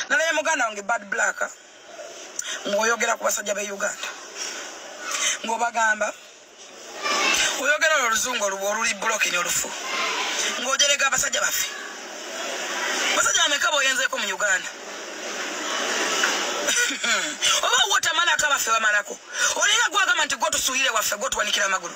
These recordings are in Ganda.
nalaye muganda wange bad black ngaoyogera ku basajja be uganda ngaobagamba oyogera olwo oluzungu oluba oluli bulokini olufu ngaojerega abasajja baffe basajja bameka boyenzeko mu uganda oba wotamalako abaffe bamalako olinga gwagamba nti gwotusuulire waffe gwotuwanikira amagulu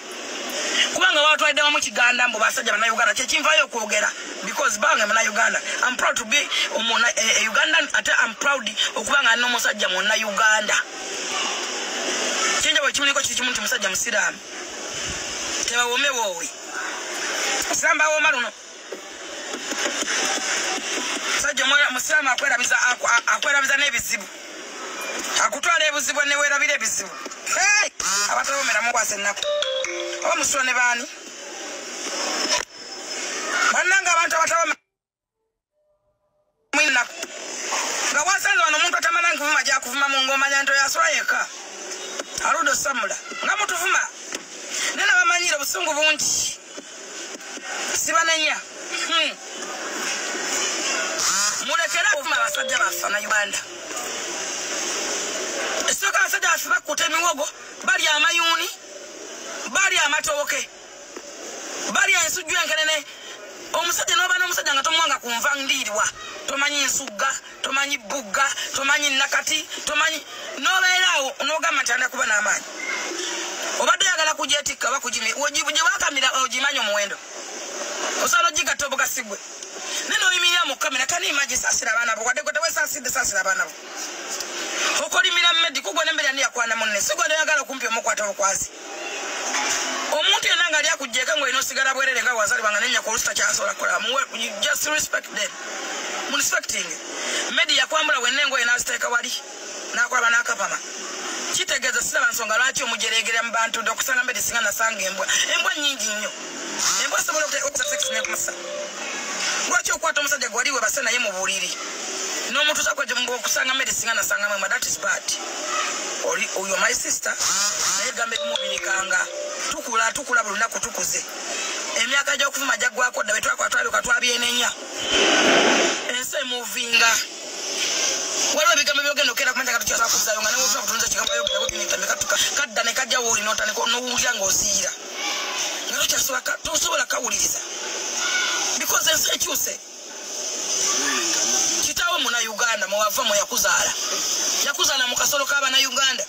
kubanga watwalidde wamu kiganda mbu basajja banauganda kyekinvayo okwogera because bange munauganda am proud to be omuna e, e, ugandan ate am proud okubanga alina omusajja munauganda kyenjabo ekimuliko kiri kimu nti musajja musiraamu tebawomewoowe samba woma luno sajja omwoyo musiraamu akwerabiza akwerabiza n'ebizibu akutwala ebuzibu newerabira ebizibu abatabomeramu kwasa ennaku oba musula ne baani bannanga abantu abatabomera nga wasanze wano omuntu atamala nkuvuma gyakuvuma mu ngomanya nti oyasula yekka aluda osamula nga mutuvuma naye nabamanyire obusungu bungi sibanenya hmm. mulekere okuvuma abasajja baffe na uganda esooka abasajja baffe bakuta emiwogo bali amayuuni bali amatooke bali ensujju enkenene omusajja noba nomusajja nga tomuwanga ku nva ndiirwa tomanyi nsugga tomanyi bugga tomanyi nakati tomanyi nobeeraawo nogamba nti anda kuba n'amaanyi obadde oyagala kujetikka oba kugimi gyewakamira ogimanyi omuwendo osobola ogigatta obugasigwe naye noyimirira mu kamera kani imaji sasira abaana bo wadde gwe tewesasidde sasira abaana bo okolimira medi kugwa nembeera niyakwana munne sigwa noyagala okumpi omukwata obukwazi omuntu yena nga ali akujjeko nga olina osigala bwerere nga wazalibwa nga nenya kolusi takyasobola kukola just respect them munspecting medi yakwambula wena engoye naziteeka wali nakwaba nakapama kitegeeza siraba nsonga lwaki omujereegerera mu bantu nti okusanga medi singa nasanga embwa embwa nyingi nnyo embwa zisobola okusa sex nekusa lwaki okwata omusajja gwali webase naye mu buliri n'omutuusa kweokusanga mmere singa nasanga mwema that is bad oli oyo my sister naye gamba ebimubirikanga tukula tukula buli lunaku tukuze emyaka gy'okuvuma gyaggwako dda betwakwatwabika twabyenenya ensi emuvinga waliwo ebigambo byogenda okera kumanya kati kyosa kuzayo nga newosa kutunza kigambo yogera kutinitambika tuka kadda ne kajja wooli notandika nowulira ng'oziira tosobola kawuliriza because ensi ekyuse kitawo muna uganda mwewava mweyakuzaala yakuzaala mu kasolo kabana uganda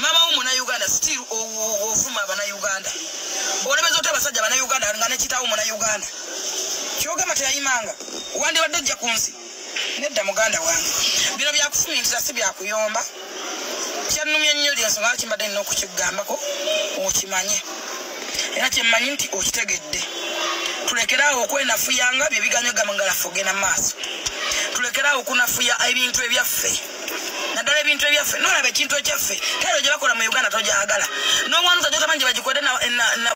mama wo muna uganda still ovuma abana uganda olebeza oti abasajja bana uganda nga nekitawo muna uganda kyogamba teyayimanga wandibadde ojja ku nsi Nedda muganda wange, bino byakufumiitira si byakuyomba. Kyannumye nnyo lye nsonga lwaki mbadde nina okukigambako okimanye era kye mmanyi nti okitegedde. Tulekere awo okwenafuyanga bye biganyo gamba nga laffe ogenda mu maaso. Tulekere awo okunafuya ebintu ebyaffe naddala ebintu ebyaffe nolaba ekintu ekyaffe kero gye bakola mu uganda togyagala n'omwana otajja otamanyi gye bagikwede na